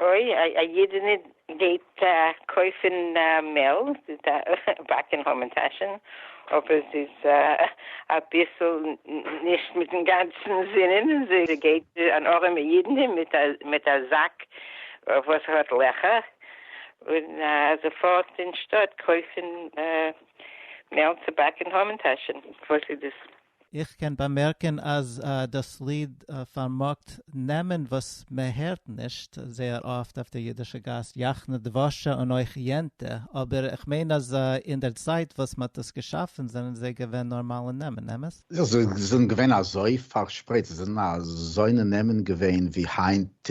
אוי, א אידענע גייט קויפען מעל, באקען המן טאשען, אבער זי איז אביסעל נישט מיטען גאנצען זינען, זי גייט אן ארעמע אידענע מיט א זאק וואס האט לעכער, און זי פארט אין שטאט קויפען מעל צו באקען המן טאשען, וואס איז דאס איך קען באמערקען אז דאס ליד פארמאגט נעמען וואס מען הערט נישט זייער אפט אויף דער אידישע גאס, יחנה דבשה און אויך יענטע, אבער איך מיין אז אין דער צייט וואס מען האט דאס געשאפען זענען זיי געווען נארמאלע נעמען, אמת? זיי זענען געווען אזוי פארשפרייט, זיי זענען אזוינע נעמען געווען ווי היינט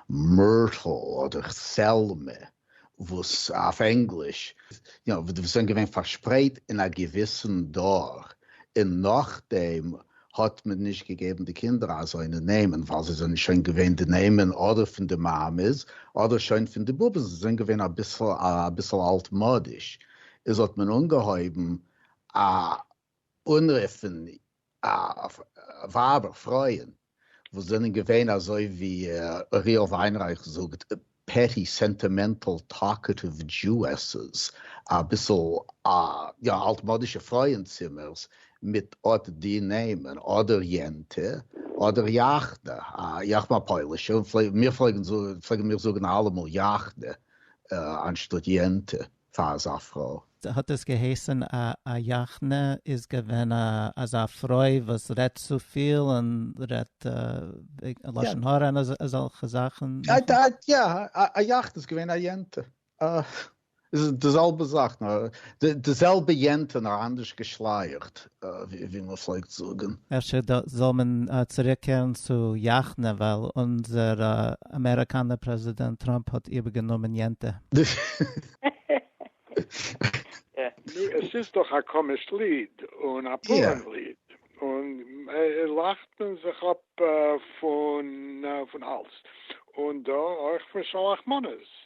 מירטל אדער סעלמע, וואס אויף ענגליש, יו נאו, וואס זענען געווען פארשפרייט אין א געוויסן דור, און נאכדעם האט מען נישט געגעבן די קינדער אזוינע נעמען ווייל זיי זענען שוין געווען די נעמען אדער פון די מאמעס אדער שוין פון די באבעס, זיי זענען געווען אביסל אלטמאדיש, איז האט מען אנגעהויבן א. אנרופן ווייבער פרויען וואס זענען געווען אזוי ווי אוריאל וויינרייך זאגט פעטי סענטימענטעל טאלקעטיוו דזשואסעס אביסל יא אלטמאדישע פרויען צימערס מיט אט די נעמען אדער יענטע אדער יאכנע איך בין א פוילישער און מיר פלעגן מיר זאגן אלעמאל יאכנע אנשטאט יענטע. פאר אזא פרוי. האט עס געהייסען א א יאכנע איז געווען א אזא פרוי וואס רעדט צופיל און רעדט לשון הרע און אזעלכע זאכען. יא א יאכנע איז געווען א יענטע איז די זעלבע זאך נאר די זעלבע יענטע נאר אנדערש געשלייעכט ווי מען פלעגט זאגן. אפשר זאל מען צוריקקערן צו יאכנע ווייל אונזער אמעריקאנער פרעזידענט טראמפ האט איבערגענומען יענטע. נו עס איז דאך א קאמיש ליד און א פאראן ליד און לאכט מען זיך אפ פון אלס און דא אויך פון שלח מנות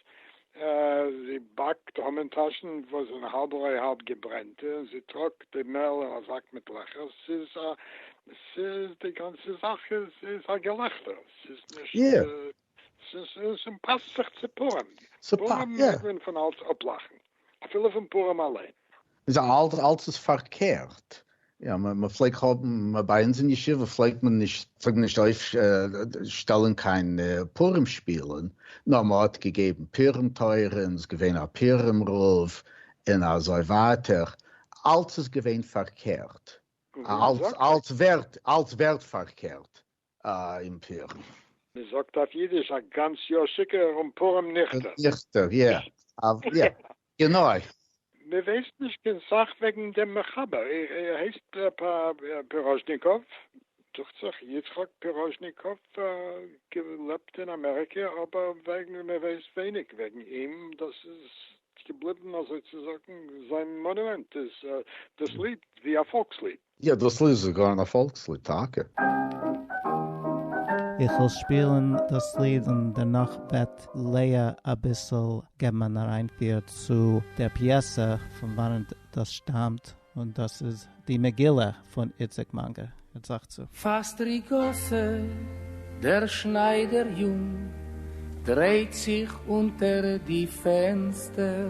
זי באַקט המן-טאַשן, װאָס זענען האַלב-רױ-האַלב געברענטע, און זי טראָגט די מעל אין אַ זאַק מיט לעכער. ס'איז אַ, ס'איז, די גאַנצע זאַך איז, איז אַ געלעכטער. ס'איז נישט, ס'איז, און ס'פּאַסט זיך צו פּורים. פּורים מעג מען פֿון אַלץ אָפּלאַכן, אַפֿילו פֿון פּורים אַלײן. איז אלץ אלץ איז פארקערט, יא מען פלעגט האבן, ביי אונז אין ישיבה פלעגט מען נישט פלעגט מען נישט אויף שטעלען קיין פורים שפילען, נאר מען האט געגעבן פורים תורה און איז געווען א פורים רב און אזוי ווייטער, אלץ איז געווען פארקערט, אלץ אלץ ווערט אלץ ווערט פארקערט. אימפערן. מען זאגט אויף אידיש א גאנץ יאר שיכור און פורים ניכטער. ניכטער יא אוו יא גענוי. מען ווייסט נישט קיין סאך וועגן דעם מחבר, ער הייסט פיראזשניקאוו דוכט זיך, יצחק פיראזשניקאוו, געלעבט אין אמעריקע, אבער וועגן מען ווייסט ווייניג וועגן אים, דאס איז געבליבן אזוי צו זאגן זיין מאנומענט איז דאס ליד ווי א פאלקס ליד. יעדעס ליד איז זאגאר אן פאלקס ליד טאקע. איך וועל שפילן דאס ליד און דערנאך וועט לאה אביסל געבן אן אריינפיר צו דער פיעסע פון וואנעט דאס שטאמט, און דאס איז די מגילה פון איציק מאנגער זאך צו. פֿאַסט די גאָסע, דער שנײַדער-יונג דרײט זיך אונטער די פֿענצטער.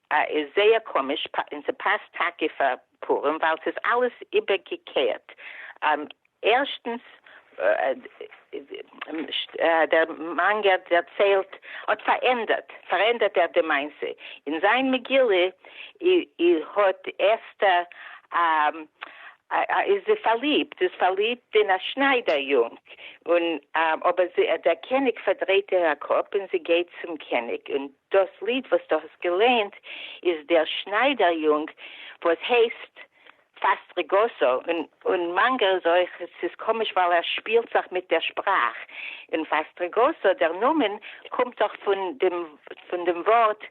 א איז זייער קאמיש אין ס'פאסט טאקע פאר פורים ווייל ס'איז אלעס איבערגעקערט ערשטנס דער מאנגער דערציילט האט פארענדערט פארענדערט ער די מעשה אין זיין מגילה אי האט אסתר א איז זי פארליבט איז פארליבט אין א שניידער יונג און אבער דער קעניג פארדרייט איר א קאפ אין זי גייט צום קעניג און דאס ליד וואס דו האסט געלייענט איז דער שניידער יונג וואס הייסט פאסט רגעסו, און מאנגער איז אויך, ס'איז קאמיש ווייל ער שפילט זיך מיט דער שפראך, און פאסט רגעסו דער נאמען קומט דאך פון דעם ווארט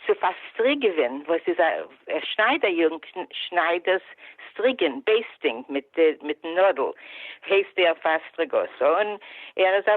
צו פארסטריגעווען וואס איז א שניידער יונג שנייד דאס סטריגען, בעיסטינג, מיטן נאדל, הייסט ער פאסט רגעסו און ער איז א.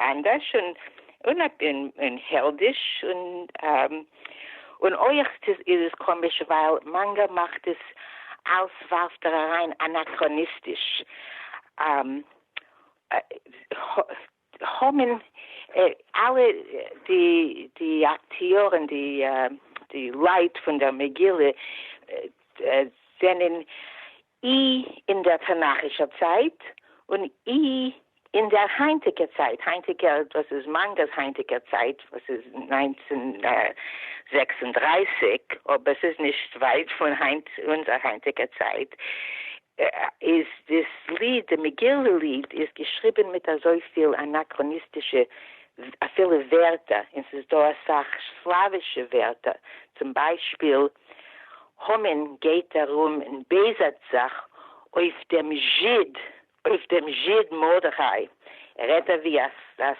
אנדערש און און און העלדיש און און אויך איז עס קאמיש ווייל מאנגא מאכט עס אלס ווארפט ער אריין אנאכראניסטיש האמין אלע די די אקטיארען די די לייט פון דער מגילה זענען אי אין דער תנכישער צייט און אי אין דער היינטיקער צייט, היינטיקער דאס איז מאנגערס היינטיקער צייט וואס איז נײַנצן זעקס און דרײַסיק אבער ס'איז נישט ווייט פון היינט אונזער היינטיקער צייט, איז דאס ליד, די מגילה ליד איז געשריבען מיט אזויפיל אנאקראניסטישע אפילו ווערטער, און ס'איז דא אסאך סלאווישע ווערטער, צום ביישפיל, המן גייט ארום און בעזהט זיך אויף דעם זשיד, אויף דעם זשיד מרדכי, ער רעדט אווי א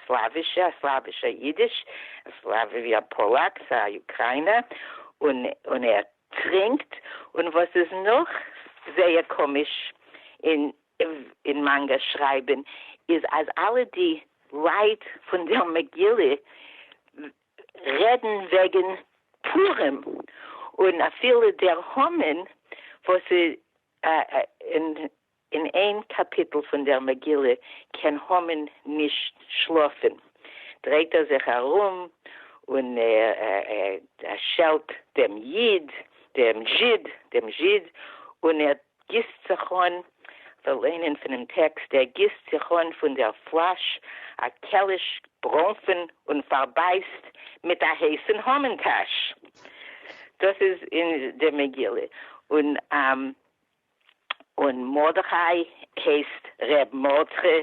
סלאווישע, א סלאווישע אידיש, א סלאוו אווי א פאלאק, א אוקריינער, און און ער טרינקט, און וואס איז נאך זייער קאמיש אין אין מאנגא שרייבען איז אז אלע די לייט פון דער מגילה, רעדן וועגן פורים און אפילו דער המן וואס אין איין קאפיטל פון דער מגילה קען המן נישט שלאפן דרייט ער זיך ארום און ער שעלט דעם איד דעם זשיד און ער גיסט זיך אן, כ'וועל ליינען פונעם טעקסט, ער גיסט זיך אן פון דער פלאש א קעליש ברוינפן און פארבייסט מיט א הייסן המן טאש. דאס איז אין די מגילה. און און מרדכי הייסט ר' מרדכי.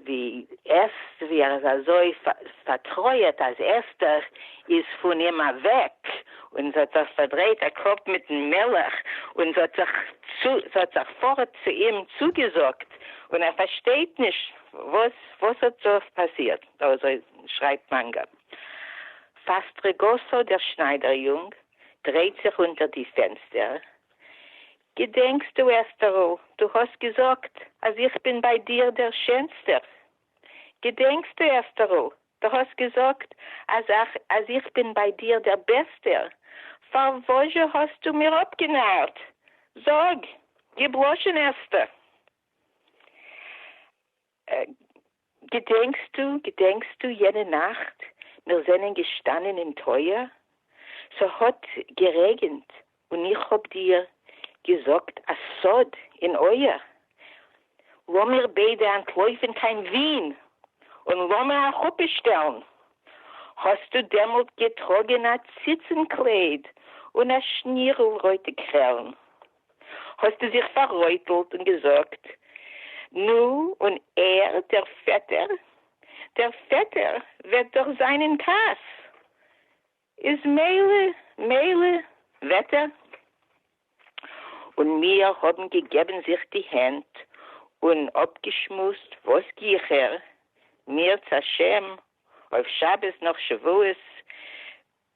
די ערשט ווי ער איז אזוי פארטרויערט אז אסתר איז פון אים אוועק און זי האט זיך פארדרייט א קאפ מיטן מלך און זי האט זיך זי האט זיך פארט צו אים צוגעזאגט און ער פארשטייט נישט וואס וואס האט דא פאסירט אזוי שרייבט מאנגא פאסטרעגאסא דער שניידער יונג דרייט זיך אונטער די פענסטער געדענקסטו, אסתּרל, דו האָסט געזאָגט, אַז איך בין בײַ דיר דער שענסטער? געדענקסטו, אסתּרל, דו האָסט געזאָגט, אַז אַך, אַז איך בין בײַ דיר דער בעסטער? פֿאַר װאָס-זשע האָסטו מיר אָפּגענאַרט? זאָג, געבלאָשענעסטע! געדענקסטו, געדענקסטו יענע נאכט מיר זענען געשטאנען אין טויער, ס'האט גערעגענט און איך האב דיר געזאגט א סוד אין אויער, לאמיר ביידע אנטלויפן קיין ווין און לאמער א חופה שטעלן, האסטו דעמאלט געטראגען א ציצן קלייד און א שנירל רויטע קרעלן, האָסטו זיך פֿאַררויטלט און געזאָגט, נו, און ער, דער פֿעטער, דער פֿעטער וועט דאָך זײַן אין כּעס, איז מילא, מילא, וועט ער. און מיר האָבן געגעבן זיך די הענט און אָפּגעשמועסט, וואָס גיכער, מירצעשעם, אויף שבת נאָך שבֿועות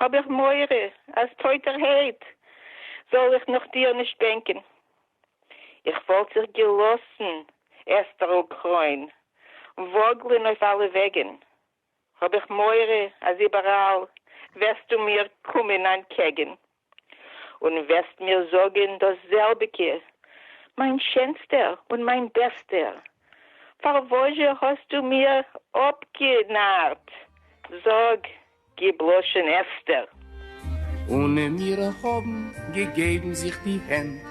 האב איך מורא אז טויטערהייט זאל איך נאך דיר נישט בענקען. איך וואלט זיך געלאסן, אסתר'ל קרוין, וואגלען אויף אלע וועגען, האב איך מורא אז איבעראל וועסטו מיר קומען אנטקעגען. און וועסט מיר זאגען דאס זעלביגע, מיין שענסטער און מיין בעסטער, פארוואז'ע האסטו מיר אפגענארט, זאג, גיב לשון עסתר. און מיר האבן געגעבן זיך די הענט.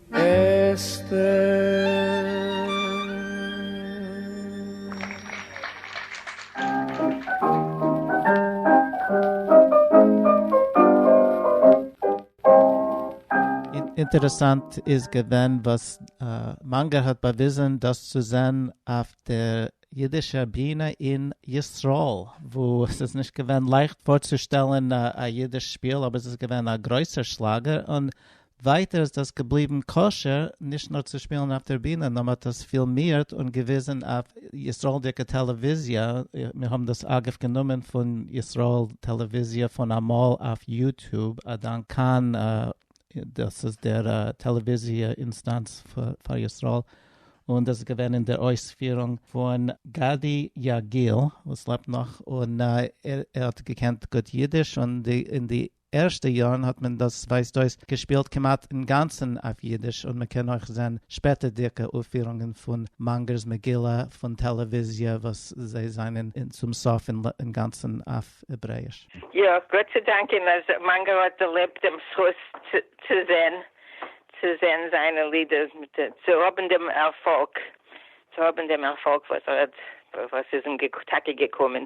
אינטערעסאנט איז געווען וואס מאנגער האט באוויזען דאס צו זען אויף דער אידישער ביענע אין ישראל וואו עס איז נישט געווען לייכט פארצושטעלען א אידיש שפיל אבער עס איז געווען א גרויסער שלאגער און ווייטער איז דאס געבליבן כשר נישט נאר צו שפילן אויף דער בינע, נאר מען האט דאס פילמירט און געוויזן אויף ישראלדיקע טעלעוויזיע, מיר האבן דאס אגב גענומען פון ישראל טעלעוויזיע פון אמאל אויף יוטוב, א דאנק כאן, דאס איז דער טעלעוויזיע אינסטאנץ פאר ישראל, און דאס איז געווען אין דער אויספירונג פון גדי יגיל וואס לעבט נאך און ער האט געקענט גוט אידיש און די ערשטע יארן האט מען דאס ווייזט אויס געשפילט כמעט אינגאנצן אויף אידיש און מ'קען אויך זען שפעטערדיגע אויפפירונגען פון מאנגער'ס מגילה פון טעלעוויזיע וואס זיי זענען צום סוף אינגאנצן אויף העברעיש. יא, גאט צו דאנקען אז מאנגער האט דערלעבט דעם זכות צו זען צו זען זיינע לידער, צו האבן דעם ערפאלג צו האבן דעם ערפאלג וואס ער האט וואס איז אים טאקע געקומען.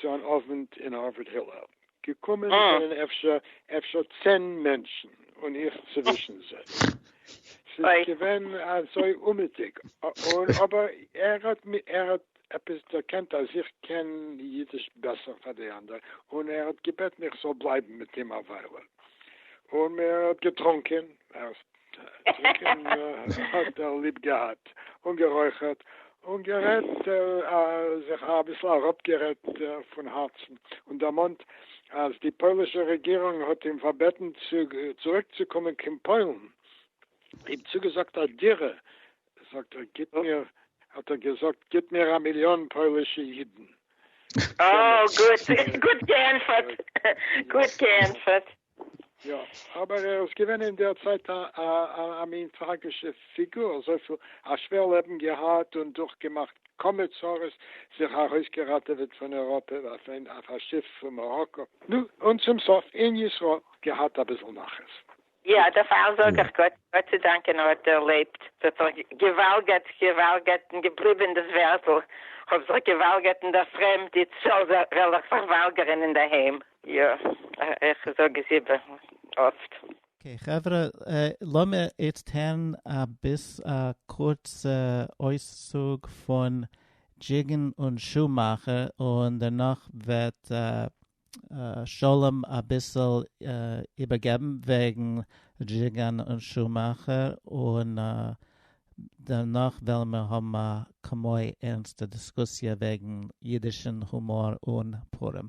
צו אן אווענט אין הארווארד הילל, געקומען זענען אפשר אפשר צען מענטשן און איך צווישן זיי, ס'איז געווען אזוי אומעטיג, און אבער ער האט ער האט עפעס דערקענט אז איך קען אידיש בעסער פאר די אנדערע, און ער האט געבעטן איך זאל בלייבן מיט אים א וויילע, און מען האט געטרונקען, טרינקען האט ער ליב געהאט, און גערויכערט, און גערעדט, זיך אביסל אראפגערעדט פון הארצן, און דערמאנט אז די פוילישע רעגירונג האט אים פארבעטן צוריקצוקומען קיין פוילן, אים צוגעזאגט א דירה, זאגט ער גיט מיר, האט ער געזאגט גיט מיר א מיליאן פוילישע אידן. אה, גוט געענטפערט. גוט געענטפערט. יא, אבער ער איז געווען אין דער צייט א מין טראגישע פיגור, אזויפיל א שווער לעבן געהאט און דורכגעמאכט כמה צרות, זיך ארויסגעראטעוועט פון אייראפע אויף א שיף פון מאראקא, נו, און צום סוף אין ישראל געהאט אביסל נחת. יא, דערפאר זאג איך גאט צו דאנקען ער האט דערלעבט, ס'האט זיך געוואלגערט, געוואלגערט און געבליבען דאס ווערטל, כ'האב זיך געוואלגערט אין דער פרעמד, איצט זאל זיך וועל איך זיך וואלגערען אינדערהיים. יא, איך זאג עס איבער אפט. אקעי חברה, לאמיר איצט הערן א ביס א קורצע אויסצוג פון דזשיגען און שומאכער, און דערנאך וועט שלום אביסל איבערגעבן וועגן דזשיגען און שומאכער, און דערנאך וועלן מיר האבן א כמו ערנסטע דיסקוסיע וועגן אידישן הומאר און פורים.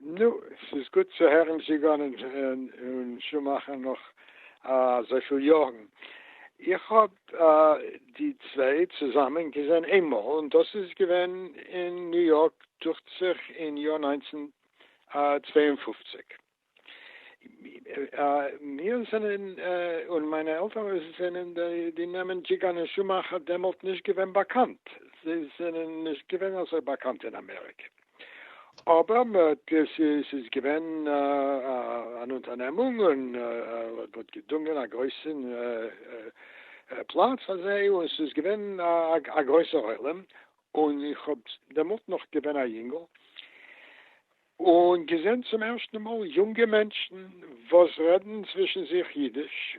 נו, ס'איז גוט צו הערן זשיגאן און שומאכער נאך אזויפיל יארן. איך האב די צוויי צוזאמען געזען איינמאל און דאס איז געווען אין ניו יארק דוכט זיך אין יאר נײַנצן צוויי און פֿופֿציק. מיר זענען און מיינע עלטערן זענען די נעמען דזשיגאן און שומאכער דעמאלט נישט געווען באקאנט, זיי זענען נישט געווען אזוי באקאנט אין אמעריקע. אבער מ'האט, ס'איז געווען אן אונטערנעמונג און מ'האט געדונגען א גרויסע פלאץ פאר זיי, און ס'איז געווען א גרויסע עולם, און איך האב דעמאלט נאך געווען א יונגל, און געזען צום ערשטן מאל יונגע מענטשן וואס רעדן צווישן זיך אידיש,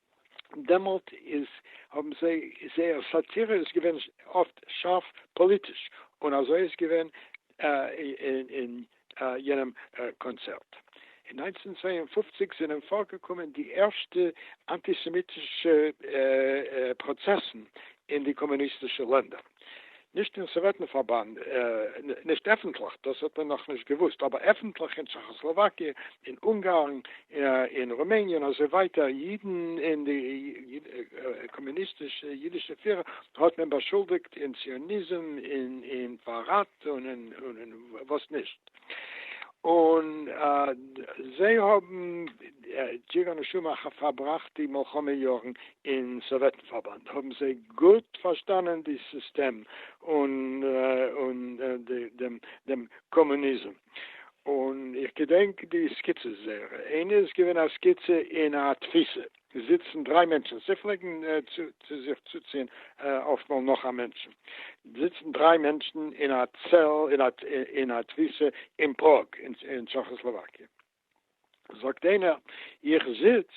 דעמאלט איז האבן זיי זייער סאטירע איז געווען אפט שארף פאליטיש און אזוי איז געווען אין יענעם קאנצערט. אין נײַנצן צוויי און פֿופֿציק זענען פארגעקומען די ערשטע אנטיסעמיטישע פראצעסן אין די קאמוניסטישע לענדער. נישט אין סאוועטן פארבאנד, נישט עפנטליך, דאס האט מען נאך נישט געוואוסט, אבער עפנטליך אין טשעכאסלאוואקיע, אין אונגארן, אין רומעניע און אזוי ווייטער, אידן און די קאמוניסטישע אידישע פירער האט מען באשולדיגט אין ציוניזם, אין פארראט און אין וואס נישט. און זיי האבן ג'גאר נשמה אחת פארבראכט די מלחמה יארן אין סאוועטן פארבאנד האבן זיי גוט פארשטאנען די סיסטעם און דעם קאמוניזם און איך געדענק די סקיצעס זייערע, איינע איז געווען א סקיצע אין א תפיסה. עס זיצן דריי מענטשן, זיי פלעגן צו צו זיך צוציען אפטמאל נאך א מענטשן, זיצן דריי מענטשן אין א צעל אין א תפיסה אין פראג אין טשעכאסלאוואקיע, זאגט איינער איך זיץ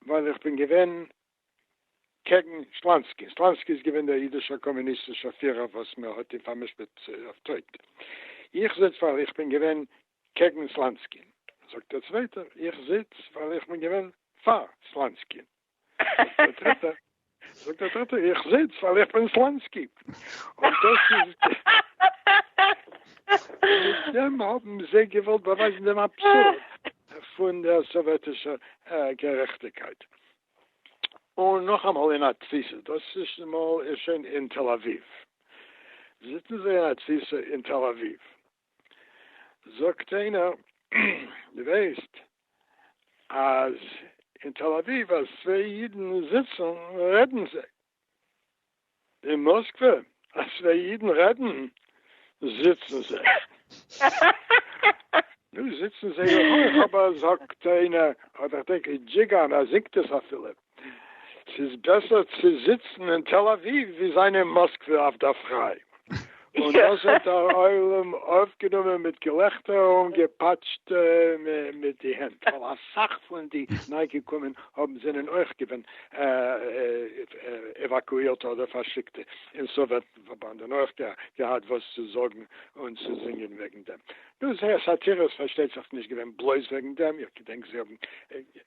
ווייל איך בין געווען קעגן שלאנסקי, שלאנסקי איז געווען דער אידישער קאמוניסטישער פירער וואס מען האט אים פארמשפט אויף טויט, איך זיץ ווייל איך בין געווען קעגן סלאנסקין, זאגט דער צווייטער, איך זיץ ווייל איך בין געווען פאר סלאנסקין, זאגט דער דריטער, זאגט דער דריטער, איך זיץ ווייל איך בין סלאנסקי, און דאס איז מיט דעם האבן זיי געוואלט באווייזן דעם אבסורד פון דער סאוועטישער גערעכטיקייט. און נאכאמאל אין א תפיסה, דאס מאל איז שוין אין תל אביב, זיצן זיי אין א תפיסה אין תל אביב, זאגט איינער דו ווייסט אז אין תל אביב אז צוויי אידן זיצן רעדן זיי? אין מאסקווע אז צוויי אידן רעדן זיצן זיי? נו זיצן זיי אויך אבער זאגט איינער אדער כ'דענק איז דזשיגאן אז זינגט עס אפילו. ס'איז בעסער צו זיצן אין תל אביב ווי זיין אין מאסקווע אויף דער פריי. און דאס האט דער עולם אויפגענומען מיט געלעכטער און געפאטשט מיט די הענט, ווייל אסאך פון די ניי-געקומען האבן זענען אויך געווען עוואקואירטע אדער פארשיקטע אין סאוועט פארבאנד און אויך געהאט וואס צו זאגן און צו זינגען וועגן דעם. נו, זייער סאטירע איז פארשטייט זיך נישט געווען בלויז וועגן דעם, איך געדענק זיי האבן.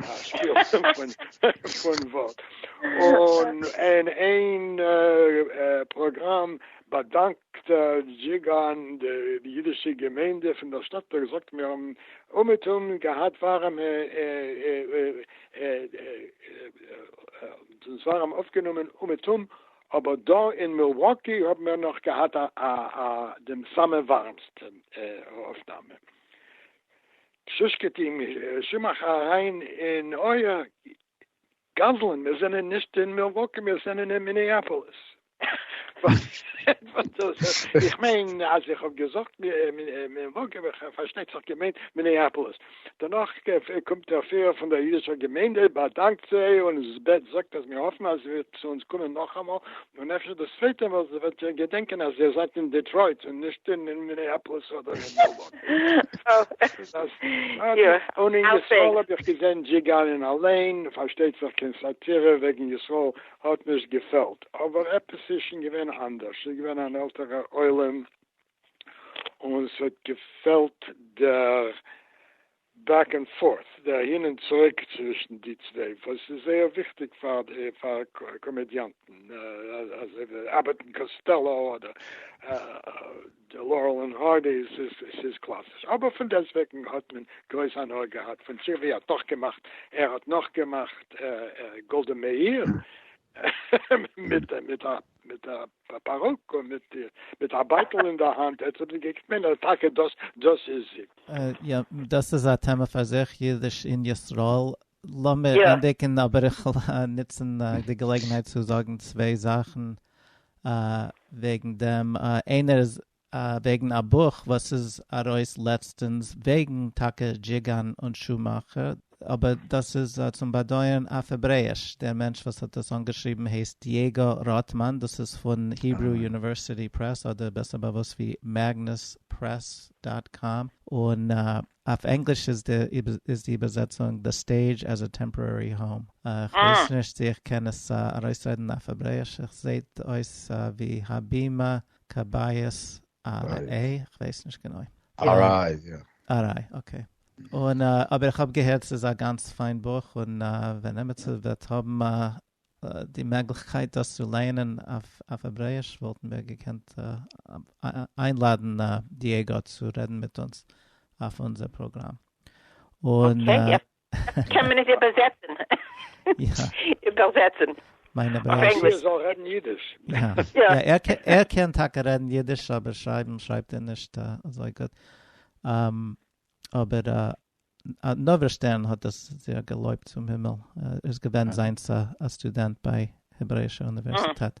א שפיל פון ווארט, און אין איין פראגראם באדאנקט דזשיגאן די אידישע געמיינדע פון דער שטאט און געזאגט מיר האבן אומעטום געהאט ווארעם אויפגענומען אומעטום, אבער דא אין מילוואקי האבן מיר נאך געהאט דעם סאמע ווארעמסטן אויפנאמע. פששקעט אים שמח אריין אין אויער, גזלן, מיר זענען נישט אין מילוואקי, מיר זענען אין מיניאפאליס. איך מיין אז איך האב געזאגט מילוואקי, האב איך פארשטייט זיך געמיינט מיניאפאליס. דערנאך קומט דער פירער פון דער אידישער געמיינדע, באדאנקט זיי און זאגט אז מיר האפן אז עס וועט צו אונז קומען נאכאמאל און אפשר דאס צווייטע ווייל זי וועט שוין געדענקען אז איר זייט אין דעטרויט און נישט אין מיניאפאליס אדער אין און אין ישראל האב איך געזען דזשיגאנען אליין, פארשטייט זיך קיין סאטירע וועגן ישראל האט נישט געפעלט, אבער עפעס איז שוין געווען אנדערש, ס'איז געווען אן עלטערער עולם. און ס'האט געפעלט דער בעק ענד פארט, דער אהין און צוריק צווישן די צוויי, וואס איז זייער וויכטיג פאר די פאר קאמעדיאנטן, אזוי ווי אבעט און קאסטעלא אדער לארעל און הארדי, ס'איז קלאסיש, אבער פון דעסטוועגן האט מען גרויס הנאה געהאט פון זשי ווי האט נאכגעמאכט, ער האט נאכגעמאכט גאלדע מאיר מיט א. מיט א פארוק און מיט א בייטל אין די האנט, עטס האט געקוקט מען אז טאקע דאס דאס איז זי. יא, דאס איז א טעמע פאר זיך, אידיש אין ישראל. לאמיר ענדיגן, אבער איך וויל נוצן די געלעגנהייט צו זאגן צוויי זאכן וועגן דעם. איינער איז וועגן א בוך וואס איז ארויס לעצטענס וועגן טאקע דזשיגאן און שומאכער, אבער דאס איז צום באדויערן אויף העברעיש, דער מענטש וואס האט דאס אנגעשריבן הייסט דייעגא ראטמאן, דאס איז פון היברו יוניווערסיטי פרעס אדער בעסער באוואוסט ווי מעגנוס פרעס דאט קאם, און אויף ענגליש איז די איבערזעצונג The Stage as a Temporary Home, איך ווייס נישט צו איך קען עס ארויסרעדן אויף העברעיש, עס זעהט אויס ווי הבימה כבאית א ר א, כ'ווייס נישט גענוי. אריי, יא. אריי, אקעי. און אבער איך האב געהערט ס'איז א גאנץ פיין בוך, און ווען עמיצער וועט האבן די מעגליכקייט דאס צו לייענען אויף העברעאיש וואלטן מיר געקענט איינלאדן דייגא צו רעדן מיט אונז אויף אונזער פראגראם. און קען מען עס איבערזעצן? איבערזעצן. מיין אבער ער ער זאל רעדן אידיש. יא ער קען טאקע רעדן אידיש אבער שרייבן שרייבט ער נישט אזוי גוט. אבער נוברא שטערן האט דאס זייער געלויבט צום הימל. ער איז געווען זיינס א סטודענט ביי העברעישע אוניווערסיטעט.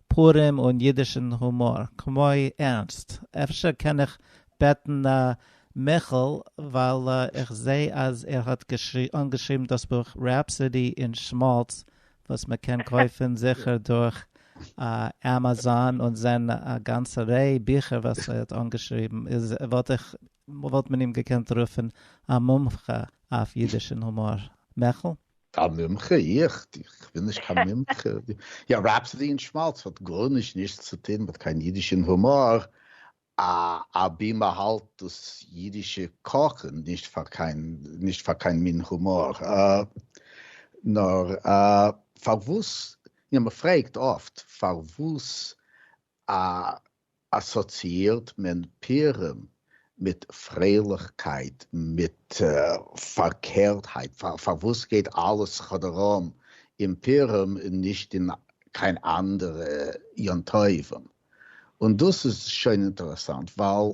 פורים און אידישן הומאר, כמו ערנסט, אפשר קען איך בעטן מיכאל ווייל איך זעה אז ער האט אנגעשריבן דאס בוך Rhapsody in Schmaltz וואס מען קען קויפן זיכער דורך עמעזאן און זען א גאנצע ריי ביכער וואס ער האט אנגעשריבן איז וואלט איך וואלט מען אים געקענט רופען א מומחה אויף אידיש און הומאר. מעכל? א מומחה? איך? איך בין נישט קיין מומחה. יא, רעפסאדי און שמאלץ האט גארנישט נישט צו טוהן מיט קיין אידיש און הומאר, אבי מען האלט דאס אידישע קאכען נישט פאר קיין נישט פאר קיין מין הומאר. נאר פארוואס, יא, מען פרעגט אפט פארוואס א אסאציאירט מען פירם מיט פרייליכקייט, מיט פארקערטהייט, פארוואס גייט אלעס כאדאראם אין פירם און נישט אין קיין אנדערע יום טובים? און דאס איז שוין אינטערעסאנט ווייל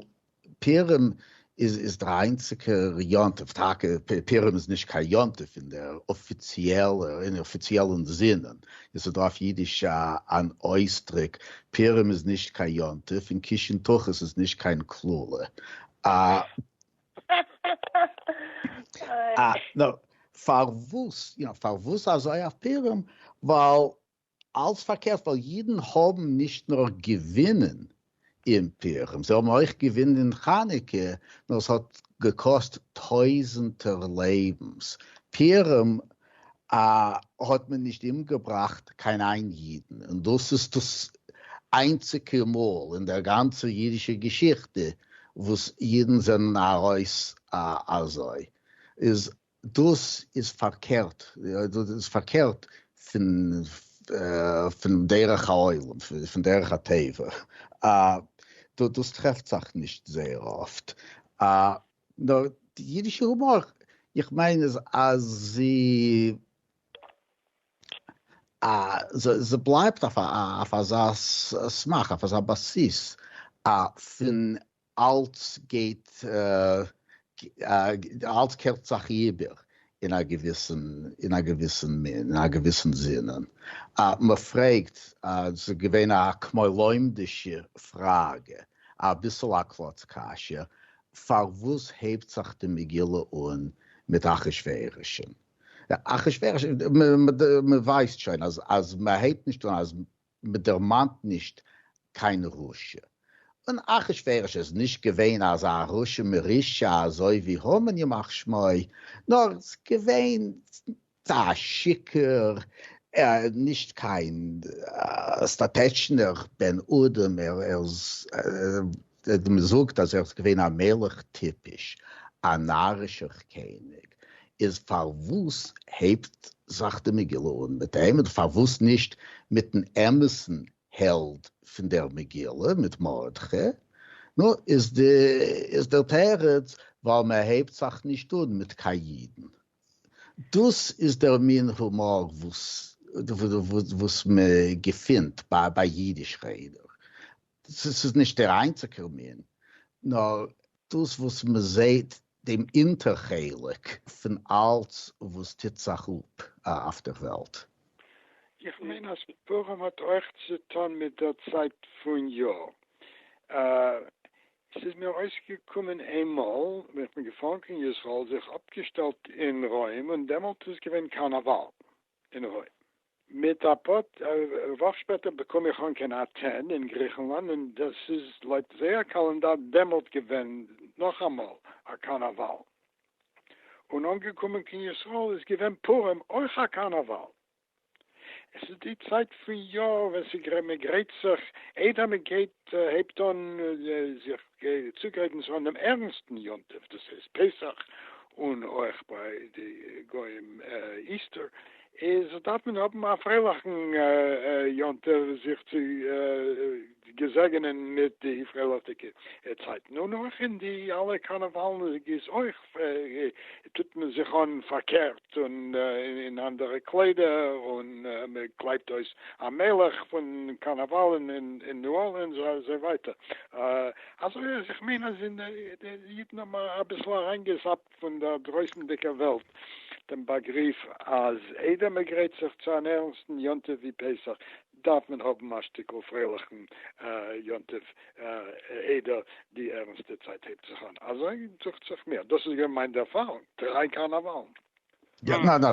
פורים איז איז דער איינציגער יום טוב, טאקע פורים איז נישט קיין יום טוב אין דער אפיציעלע אין אפיציעלן זינען, עס איז דא אויף אידיש א אן אויסדרוק, פורים איז נישט קיין יום טוב, און קישן תחת איז נישט קיין קללה. א. נו, פארוואס, יא, פארוואס אזוי אויף פורים? ווייל אלס פארקערט ווייל אידן האבן נישט נאר געווינען אין פורים, זיי האבן אויך געווינען אין חנוכה, נאר עס האט געקאסט טויזענטער לעבנס, פורים האט מען נישט אומגעבראכט קיין איין אידן, און דאס איז דאס איינציגע מאל אין דער גאנצער אידישער געשיכטע וואס אידן זענען ארויס אזוי, איז דאס איז פארקערט, דאס איז פארקערט פון פון דרך העולם, פון דרך הטבע, דאס טרעפט זיך נישט זייער אפט, נאר די אידישע הומאר, איך מיין איז אז זי זי בלייבט אויף אויף אזא סמך, אויף אזא בסיס פון אלץ גייט אלץ קערט זיך איבער אין א געוויסן אין א געוויסן מין אין א געוויסן זין מען פרעגט עס איז געווען א כמו לומדישע פראגע אביסל א קלאץ קשיא פארוואס הייבט זיך די מגילה אן מיט אחשורוש אחשורוש מען ווייסט שוין אז אז מען הייבט נישט אן אז מ'דערמאנט נישט קיין רשע. און אחשורוש איז נישט געווען אזא רשע מרושע אזוי ווי המן ימח שמו, נאר געווען א שיכור, נישט קיין סטאטעטשנער בן אדם, ער איז מען זאגט אז ער איז געווען א מלך טיפש, א נארישער קעניג, איז פארוואס הייבט זיך די מגילה אן מיט אים, און פארוואס נישט מיטן אמת'ן העלד פון דער מגילה, מיט מרדכי? נו, איז דער תירוץ, ווייל מען הייבט זיך נישט אן מיט קיין אידן. דאס איז דער מין הומאר וואס מען געפינט ביי אידיש רעדער, ס'איז ס'איז נישט דער איינציגער מין, נאר דאס וואס מען זעהט דעם אונטער חלק פון אלץ וואס טוט זיך אפ אויף דער וועלט. איך מיין אז פורים האט אויך צוטון מיט דער צייט פון יאר. ס'איז מיר אויסגעקומען איינמאל ווען איך בין געפארן קיין ישראל, זיך אפגעשטעלט אין רוים, און דעמאלט איז געווען קארנאוואל. אין הוי. מיט א פאר וואך שפעטער באקום איך אן קיין אטען אין גריכנלאנד און דאס איז לויט זייער קאלענדאר דעמאלט געווען נאכאמאל א קארנאוואל. און אנגעקומען קיין ישראל איז געווען פורים אויך א קארנאוואל. עס איז די צייט פון יאר ווען מען גרייט זיך איידער מען גייט הייבט אן זיך. גיי צוגרייטן זיך אן דעם ערנסטן יום טוב, דאס הייסט פסח, און אויך ביי די גוים איסטער, איז דארף מען האבן א פרייליכן יום טוב זיך צו געזעגענען מיט די פרייליכדיגע צייטן, און אויך אין די אלע קארנעוואלן איז אויך טוט מען זיך אן פארקערט. געשטופט און אין אנדערע קליידער און מען קלייבט אויס א מלך פון קארנאוואלן אין ניו ארלינס אזוי ווייטער אזוי אז איך מיין אז די אידן האבן אביסל אריינגעזאפט פון דער דרויסנדיגער וועלט דעם באגריף אז איידער מען גרייט זיך צו אן ערנסטן יום טוב ווי פסח דארף מען האבן א שטיקל פרייליכן יום טוב איידער די ערנסטע צייט הייבט זיך אן, אזוי דוכט זיך מיר, דאס איז געווען מיין ערפארונג דריי קארנאוואלן. יא, ניין,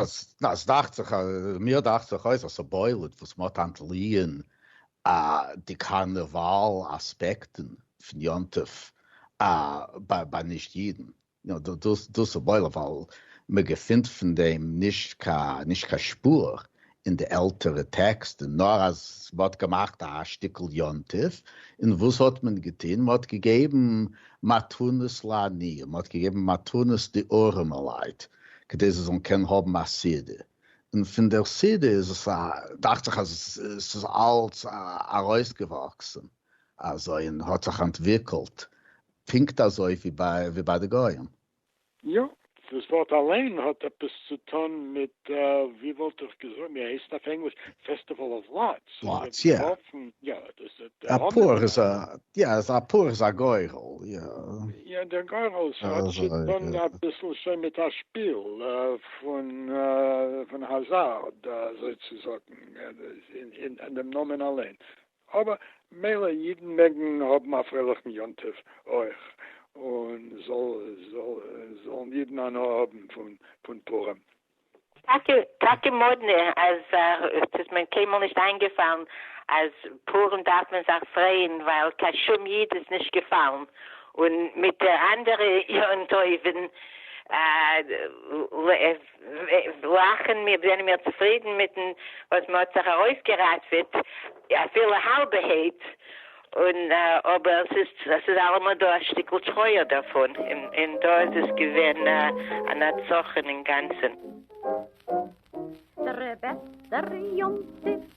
עס דאכט זיך, מיר דאכט זיך אויס אז ס'בולט וואס מ'האט אנטליען די קארנאוואל אספעקטן פון יום טוב ביי נישט אידן. יא דאס דאס וואויל ווייל מ'געפינט פון דעם נישט קיין נישט קיין שפור אין די עלטערע טעקסטן נאר אז מ'האט געמאכט א שטיקל יום טוב און וואס האט מען געטון מ'האט געגעבן מתנות לעניים מ'האט געגעבן מתנות די ארעמעלייט כדי זיי זאלן קענען האבן א סעודה און פון דער סעודה איז עס א דאכט זיך אז עס איז אלץ ארויסגעוואקסן אזוי און האט זיך אנטוויקלט. פונקט אזוי ווי ביי די גוים. יא. דאס ווארט אליין האט עפעס צו טון מיט ווי וואלט איך געזאגט ווי הייסט אויף ענגליש פעסטיוועל אוו לאטס. לאטס יא. יא דאס איז די. א פור איז א יא א פור איז א גורל יא. יא דער גורל האט צו טון אביסל שוין מיט א שפיל פון האזארד אזוי צו זאגן אין דעם נאמען אליין אבער מילא אידן מעגן האבן א פרייליכן יום טוב אויך, און זאלן אידן הנאה האבן פון פורים. טאקע טאקע מאדנע אז ס'איז מען קיינמאל נישט איינגעפאלן אז פורים דארף מען זיך פרייען ווייל קיין שום איד איז נישט געפאלן, און מיט די אנדערע יום טובים וועלכן מיר זענען מיר צופרידן מיטן וואס מען האט זיך ארויסגעראטוועט אפילו האלבע העט, און אבער עס איז אלעמאל דא א שטיקל טרויער דערפון, און דא איז עס געווען א נצחון אינגאנצן. דער בעסטער יום טוב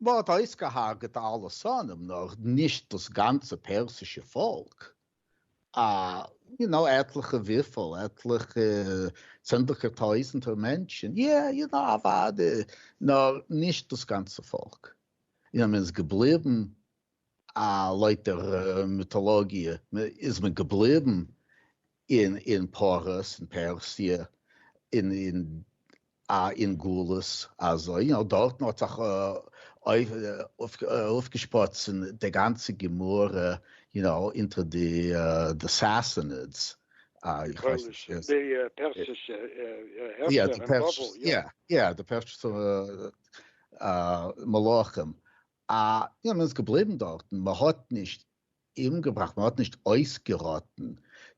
מען האט אויסגעהארגעט א אלע שונאים נאר נישט דאס גאנצע פערסישע פאלק, א יו נאו עטליכע וויפל עטליכע צענדליגער טויזענטער מענטשען, יע יו נאו אוואדי נאר נישט דאס גאנצע פאלק, און אז מען איז געבליבען א לויט דער מיטאלאגיע איז מען געבליבען אין אין פרס אין פערסיע אין אין א אין גלות אזוי יא דארטן האט זיך אויף אויפגעשפראצן די גאנצע גמרא יו נאו אינטער די די סאסענידס איך ווייס נישט ווער די פערסישע הערשער אין בבל יא יא די פערסישע מלכים א יא מען איז געבליבן דארטן מען האט נישט אומגעבראכט, מען האט נישט אויסגעראטן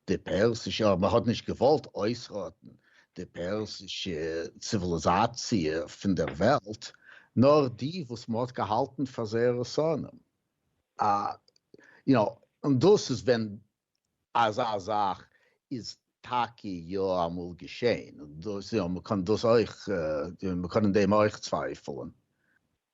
די פערסישע, אדער מען האט נישט געוואלט אויסראטן די פערסישע ציוויליזאציע פון דער וועלט, נאר די וואס מען האט געהאלטן פאר זייערע שונאים. יו נאו, און דאס איז ווען אזא זאך איז טאקע יא אמאל געשען, און דאס, יו נאו, מען קען דאס אויך, מען קען אין דעם אויך צווייפלען,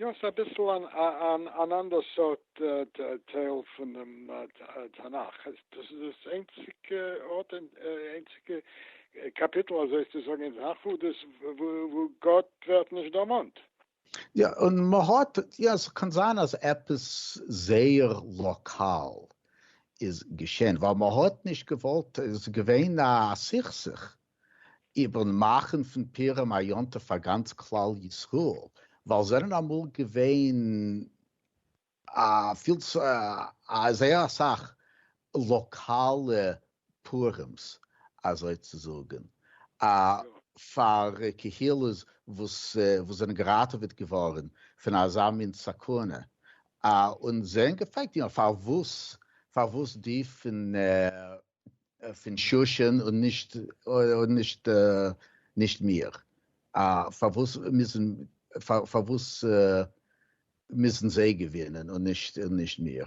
יא, ס'איז אביסל אן אנדער סארט טייל פונעם תנך, דאס איז דאס איינציגע ארט, איינציגע קאפיטל אזוי צו זאגן אין תנך וואו גאט ווערט נישט דערמאנט. יא, און מ'האט, יא, ס'קען זיין אז עפעס זייער לאקאל איז געשען, ווייל מ'האט נישט געוואלט, עס איז געווען א סכסוך איבערן מאכן פון פורים א יום טוב פאר גאנץ כלל ישראל, ווייל זענען אמאל געווען א פיל זייער אסאך לאקאלע פורים'ס אזוי צו זאגן, פאר קהילות וואס זענען געראטעוועט געווארן פון אזא מין סכנה, און זיי האבן געפרעגט פארוואס די פון פון שושן און נישט און נישט נישט מיר. פארוואס מוזן פארוואס מוזן זיי געווינען און נישט און נישט מיר?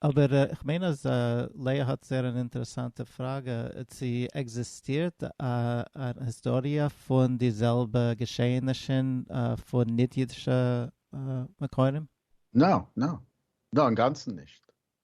אבער איך מיין אז לאה האט זייער אן אינטערעסאנטע פראגע, צו עקזיסטירט א היסטאריע פון די זעלבע געשעענישן פון ניט-אידישע מקורים? נאו, נאו, נאו, אינגאנצן נישט.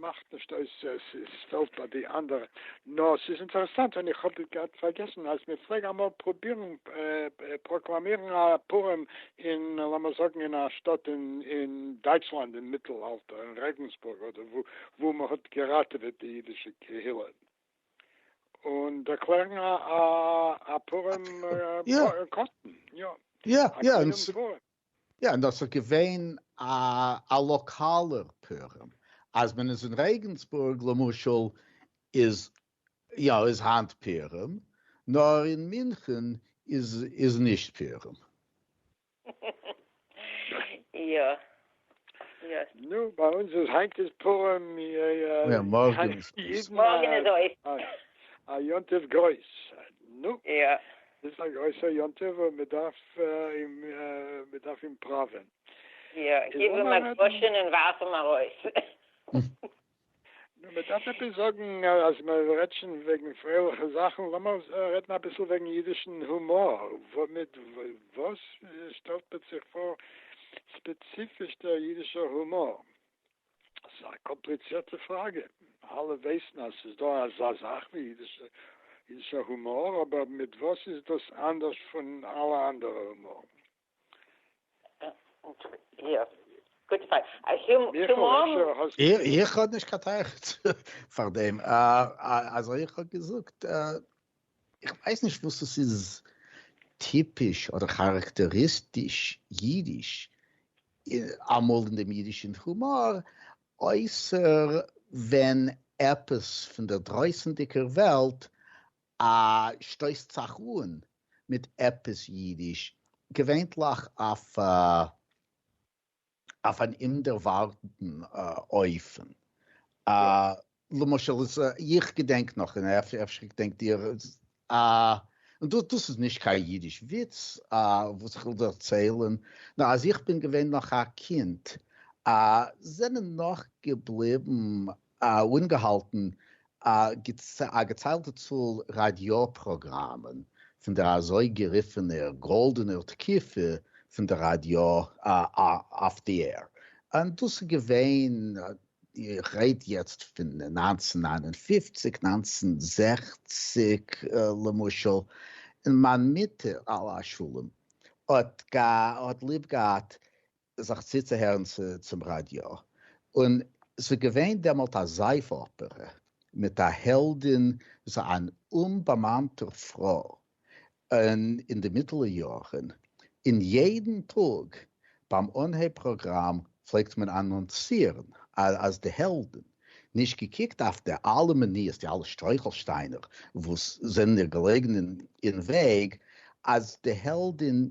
מאכט נישט אויס עס איז פעלט ביי די אנדערע נאר ס'איז אינטערעסאנט און איך האב געהאט פארגעסן אז מען פלעג אמאל פרובירן פראקלאמירן א פורים אין לאמיר זאגן אין א שטאט אין דייטשלאנד אין מיטל אלטער אין רעגענסבורג אדער וואו וואו מען האט געראטעוועט די אידישע קהילה און דערקלערן א פורים קאסטן יא יא יא יא, און דאס איז געווען א א לאקאלער פורים, אז מען איז אין רעגענסבורג למשל איז יא איז היינט פורים, נאר אין מינכען איז איז נישט פורים. יא יא. נו ביי אונז איז היינט איז פורים יא מארגען איז אויס. א יום טוב גרויס. נו. יא. דאס איז א גרויסער יום טוב און מען דארף אים מען דארף אים פראווען. יא, גיב אים א דרשן און ווארף אים ארויס. נו, מען דארף עפעס זאגן, אז מען רעדט שוין וועגן פרייליכע זאכן, לאמיר רעדן אביסל וועגן אידישן הומאר, מיט וואס שטעלט מען זיך פאר ספעציפיש דער אידישער הומאר? ס'איז א קאמפליצירטע פראגע, אלע ווייסן אז ס'איז דא אזא זאך ווי אידישער הומאר, אבער מיט וואס איז דאס אנדערש פון אלע אנדערע הומארן? איך האב נישט קיין תירוץ פאר דעם, אזוי איך האב געזאגט איך ווייס נישט וואס עס איז טיפיש אדער כאראקטעריסטיש אידיש אמאל אין דעם אידישן הומאר, אויסער ווען עפעס פון דער דרויסנדיגער וועלט שטויסט זיך אן מיט עפעס אידיש, געווענליך אויף א אויף אן אומדערווארטעטן אופן, למשל איז איך געדענק נאך און אפשר געדענקט איר און דאס איז נישט קיין אידיש וויץ וואס איך וויל דערציילען נאר אז איך בין געווען נאך א קינד זענען נאך געבליבן אנגעהאלטן א געציילטע צאל ראדיא פראגראמען פון דער אזוי גערופענער גאלדענער תקופה פון דער ראדיא אויף די עיר, און דאס איז געווען, איך רעד יעצט פון נײַנצן נײַן און פֿופֿציק, נײַנצן זעכציק למשל, און מיין מוטער עליה השלום האט ליב געהאט זיך צוצוהערן צום ראדיא, און ס'איז געווען דעמאלט א זייף אפערע מיט א העלדין וואס איז אן אומבאמאנטע פרוי און אין די מיטעלע יארן, און יעדן טאג ביים אנהייב פראגראם פלעגט מען אנאנסירן אז די העלדין, נישט געקוקט אויף די אלע מניעות, די אלע שטרויכלשטיינער וואס זענען איר געלעגן אין וועג, אז די העלדין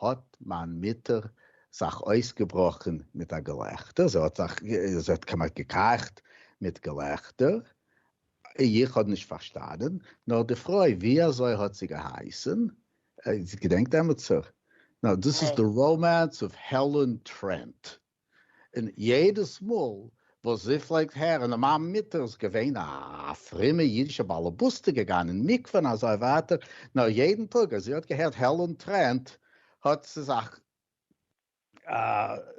האָט מײַן מוטער זיך אױסגעבראָכן מיט אַ געלעכטער. זי האָט זיך, זי האָט כּמעט געקײַכט מיט געלעכטער. איך האָב נישט פֿאַרשטאַנען, נאָר די פֿרױ, װי אַזױ האָט זי געהײסן? זי געדענקט עמעצער? נאָר דאָס איז די ראָמאַנס אָװ העלען טרענט. און יעדעס מאל וואס זי פלעגט הערן אז מיין מוטער איז געווען א פרומע אידישע באלעבאסטע געגאנגען אין מקווה און אזוי ווייטער, נאר יעדן טאג אז זי האט געהערט העלען טרענט האט זי זיך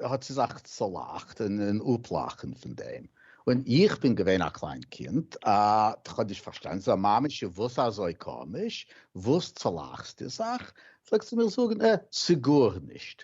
האט זי זיך צולאכט און אפלאכן פון דעם, און איך בין געווען א קליין קינד און כ'האב נישט פארשטאנען זיי, מאמי ש וואס אזוי קאמיש, וואס צולאכסטו זיך? פלעגט זי מיר זאגן, אה, ס'גארנישט,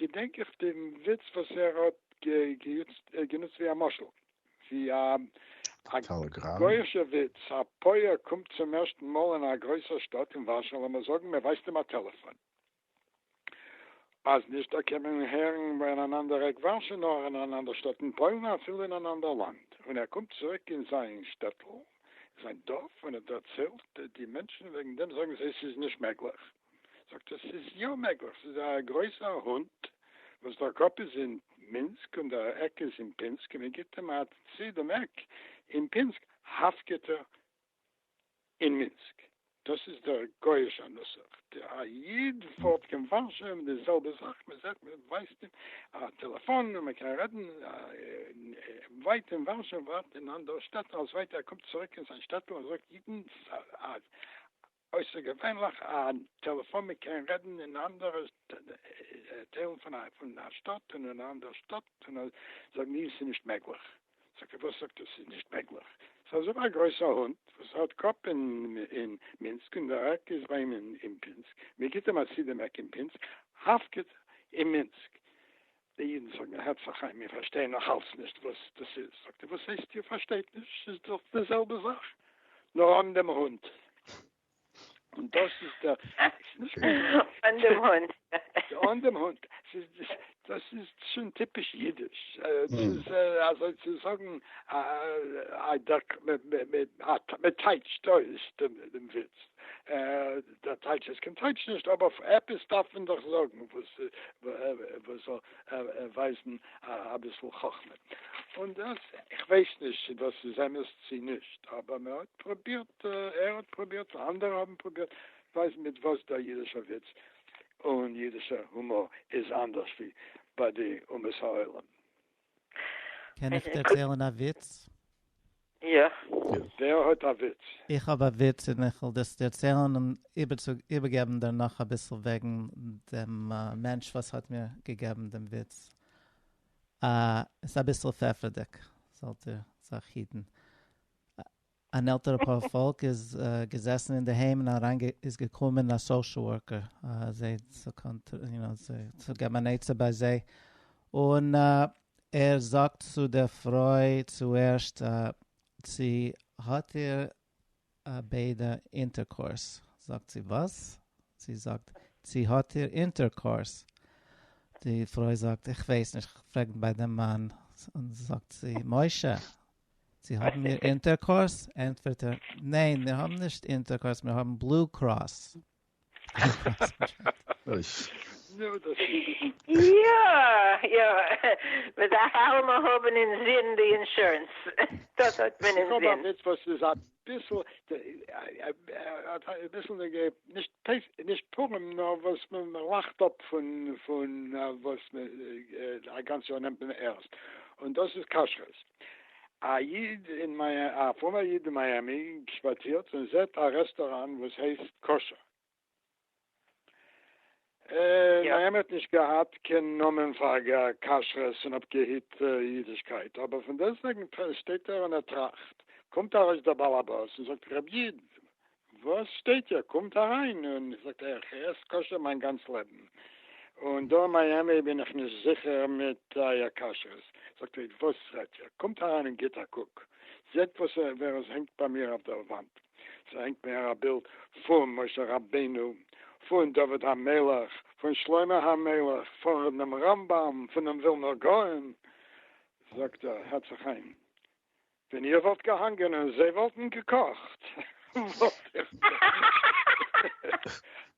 געדענק איך דעם וויץ וואס ער האט גענוצט ווי א משל, ווי א גויאישער וויץ, א פויער קומט צום ערשטן מאל אין א גרויסער שטאט אין ווארשא, לאמיר זאגן מען ווייזט אים א טעלעפאן, אז נישט דא קען מען אים הערן אין אן אנדער עק ווארשא, נאר אין אן אנדער שטאט אין פוילן, און אפילו אין אן אנדער לאנד, און ער קומט צוריק אין זיין שטעטל, זיין דארף, און ער דערציילט די מענטשן וועגן דעם, זאגן זיי ס'איז נישט מעגליך. זאגט ער ס'איז יא מעגליך, ס'איז א גרויסער הונט וואס דער קאפ איז אין מינסק און דער עק איז אין פינסק און מען גיבט אים א צי דעם עק אין פינסק האפקעט ער אין מינסק, דאס איז דער גויאישער נוסח, א איד פארט קיין ווארשע און די זעלבע זאך, מען זעט מען ווייזט אים א טעלעפאן און מען קען רעדן ווייט אין ווארשע ווייט אין אנדערע שטעט, אלס ווייטער ער קומט צוריק אין זיין שטעטל ער זאגט אידן אויסערגעווענליך א טעלעפאן מען קען רעדן אין אנדערע טיילן פון א פון א שטאט און אין א אנדערע שטאט און זאגן ניין ס'איז נישט מעגליך זאגט ער וואס זאגט איר ס'איז נישט מעגליך ס'איז אזוי א גרויסע הונט וואס האט קאפ אין אין מינסק און דער עק איז ביי אים אין פינסק מ'גיט אים א סידעמעק אין פינסק הפקד אין מינסק די אידן זאגן הערצה חיים מיר פארשטייען נאך אלץ נישט וואס דאס איז, זאגט ער וואס הייסט איר פארשטייט נישט ס'איז דאך די זעלבע זאך נאר אן דעם הונט און דאס איז דער אן דעם הונט אן דעם הונט דאס איז שוין טיפיש אידיש ס'איז אזוי צו זאגן א דערק מ'טייטשט אויס דעם וויץ. דער טייטש איז קיין טייטש נישט אבער עפעס דארף מען דאך זאגן וואס וואס זאל ווייזן אביסל חכמה און דאס איך ווייס נישט צו דאס איז אמת צו נישט אבער מען האט פרובירט ער האט פרובירט אנדערע האבן פרובירט ווייזן מיט וואס דער אידישער וויץ און אידישער הומאר איז אנדערש ווי ביי די אומות העולם. קען איך דערציילן א וויץ? יא. ווער האט א וויץ? איך האב א וויץ און איך וועל דאס דערציילן און איבערגעבן דערנאך אביסל וועגן דעם מענטש וואס האט מיר געגעבן דעם וויץ. עס איז אביסל פעפערדיג, זאלט איר זיך היטן. אן עלטערע פאר פאלק איז געזעסן אינדערהיים און אריין איז געקומען א סאושעל ווארקער זיי צו יו נאו צו געבן אן עצה ביי זיי און ער זאגט צו דער פרוי צו ערשט צו האט איר ביידע אינטערקאורס זאגט זי וואס? זי זאגט צו האט איר אינטערקאורס? די פרוי זאגט איך ווייס נישט כ'פרעג ביי דעם מאן און זאגט זי משה צו האבן מיר אינטערקאורס? ענטפערט ער, ניין, מיר האבן נישט אינטערקאורס, מיר האבן בלו קראס. יא, יא, מען דארף אלעמאל האבן אינזין די אינשורענס, דאס האט מען אינזין. ביסל ביסל נישט נישט פורים נאר וואס מען לאכט אפ פון פון וואס מען א גאנץ יאר נעמט מען ערנסט און דאס איז כשרות. א איד אין מיי א פרומער איד אין מיאמי שפאצירט און זעט א רעסטוראן וואס הייסט כשר און א אמת נישט געהאט קיין נאמען פאר כשרות און אפגעהיט אידישקייט, אבער פון דעסטוועגן שטייט ער און ער טראכט, קומט ארויס דער בעל הבית און זאגט רבי איד וואס שטייט איר קומט אריין, און זאגט ער איך עס כשר מיין גאנץ לעבן, און דא אין מיאמי בין איך נישט זיכער מיט אייער כשרות, זאגט רבי איד וואס רעדט איר קומט אריין און גיט א קוק זעט וואס ווער עס הענגט ביי מיר אויף דער וואנט. ס'הענגט מער א בילד פון משה רבינו, פון דוד המלך, פון שלמה המלך, פונעם רמב ם, פונעם ווילנער גאון, זאגט ער, הערט זיך איין, ווען איר וואלט געהאנגען און זיי וואלטן געקאכט, וואלט איך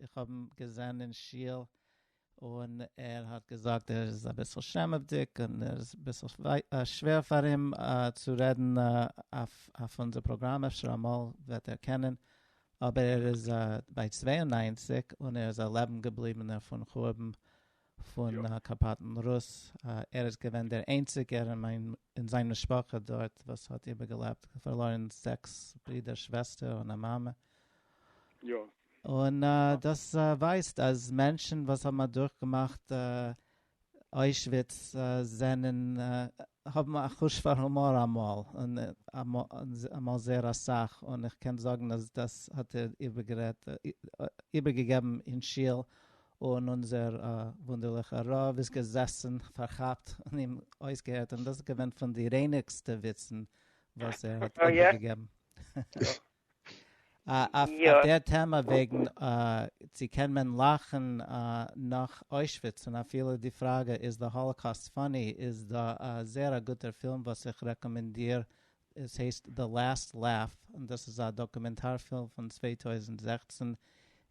איך האב אים געזען אין שול און ער האט געזאגט ער איז אביסל שעמעוודיג און ער איז אביסל שווער פאר אים צו רעדן אויף אונזער פראגראם, אפשר אמאל וועט ער קענען, אבער ער איז ביי צוויי און נײַנציק און ער איז א לעבן געבליבענער פון חורבן פון קאפאטן רוס, ער איז געווען דער איינציגער אין זיין משפחה דארט וואס האט איבערגעלעבט, פארלוירן זעקס ברידער שוועסטער און א מאמע, און דאס ווייזט אז מענטשן וואס האבן אדורכגעמאכט אוישוויץ זענען האבן א חוש פאר הומאר אמאל, און אמאל זייער אסאך, און איך קען זאגן אז דאס האט ער איבערגעגעבן אין שול און אונזער וואונדערליכע רב איז געזעסן פארכאפט און אים אויסגעהערט, און דאס איז געווען פון די רייניגסטע וויצן וואס ער האט איבערגעגעבן. אויף דער טעמע וועגן צו קען מען לאכן נאך אוישוויץ און אפילו די פראגע איז די האלאקאסט פאני איז דא א זעהר א גוטער פילם וואס איך רעקאמענדיר עס הייסט The Last Laugh און דאס איז א דאקומענטאר פילם פון צוויי טויזנט זעכצן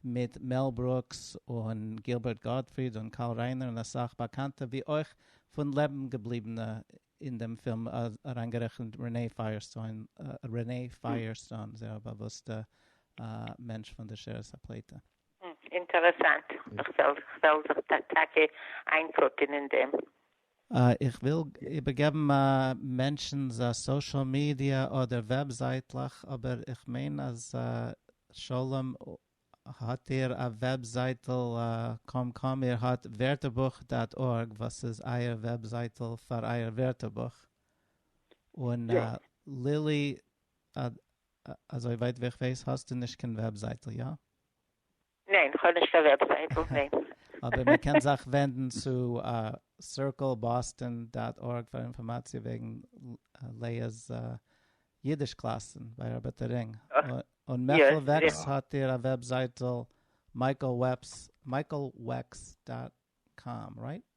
מיט מעל ברוקס און גילבערט גאטפריד און קארל ריינער און אסאך באקאנטע ווי אויך פון לעבן געבליבענע אין דעם פילם אריינגערעכנט רענעי פייערסטאון Renee Firestone זייער באוואוסטע מענטש פון די שערס הפליטה. אינטערעסאנט, כ'וועל זיך טאקע איינקוקען אין דעם. איך וויל איבערגעבן א מענטשנ'ס א סאשעל מידיע אדער וועבזייטלעך, אבער איך מיין אז שלום האט איר א וועבזייטל קוים קוים, איר האט ווערטערבוך דאט ארג וואס איז אייער וועבזייטל פאר אייער ווערטערבוך, און לילי אזוי ווייט ווי איך ווייס האסטו נישט קיין וועבזייטל, יא? ניין, כ'האב נישט קיין וועבזייטל, ניין. אבער מען קען זיך ווענדן צו סירקל באסטאן דאט ארג פאר אינפארמאציע וועגן לעא'ס אידיש קלאסן ביי ארבעטער רינג. און מעכל וועקס האט איר א וועבזייטל מייקל וועקס דאט קאם, רייט?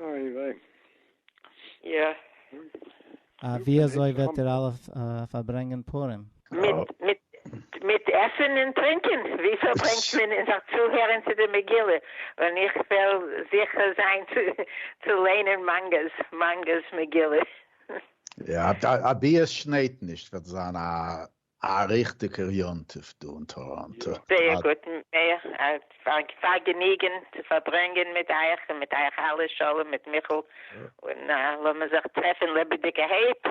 איי וויי. יא. אה, ווי אזוי וועט איר אלע פארברענגען פורים? מיט מיט עסן און טרינקען. ווי פארברענגט מען אין זיך צוהערן צו די מגילה, ווען איך וועל זוכה זיין צו ליינען מאנגא'ס מאנגא'ס מגילה. יא, א ביעס שניידט נישט וועט זיין א א ריכטיגער יום טוב דא אין טאראנטא. זייער גוט, פארגעניגען צו פארברענגען מיט אייך און מיט אייך אלע, שלום מיט מיכל, און לאמיר זיך טרעפען לעבעדיגעהייט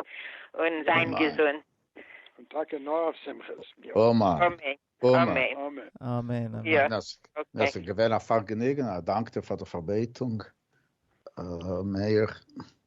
און זיין געזונט. און טאקע נאר אויף שמחות. אמן. אמן. אמן. עס איז געווען א פארגעניגען, א דאנק דיר פאר די פארבעטונג, ר' מאיר.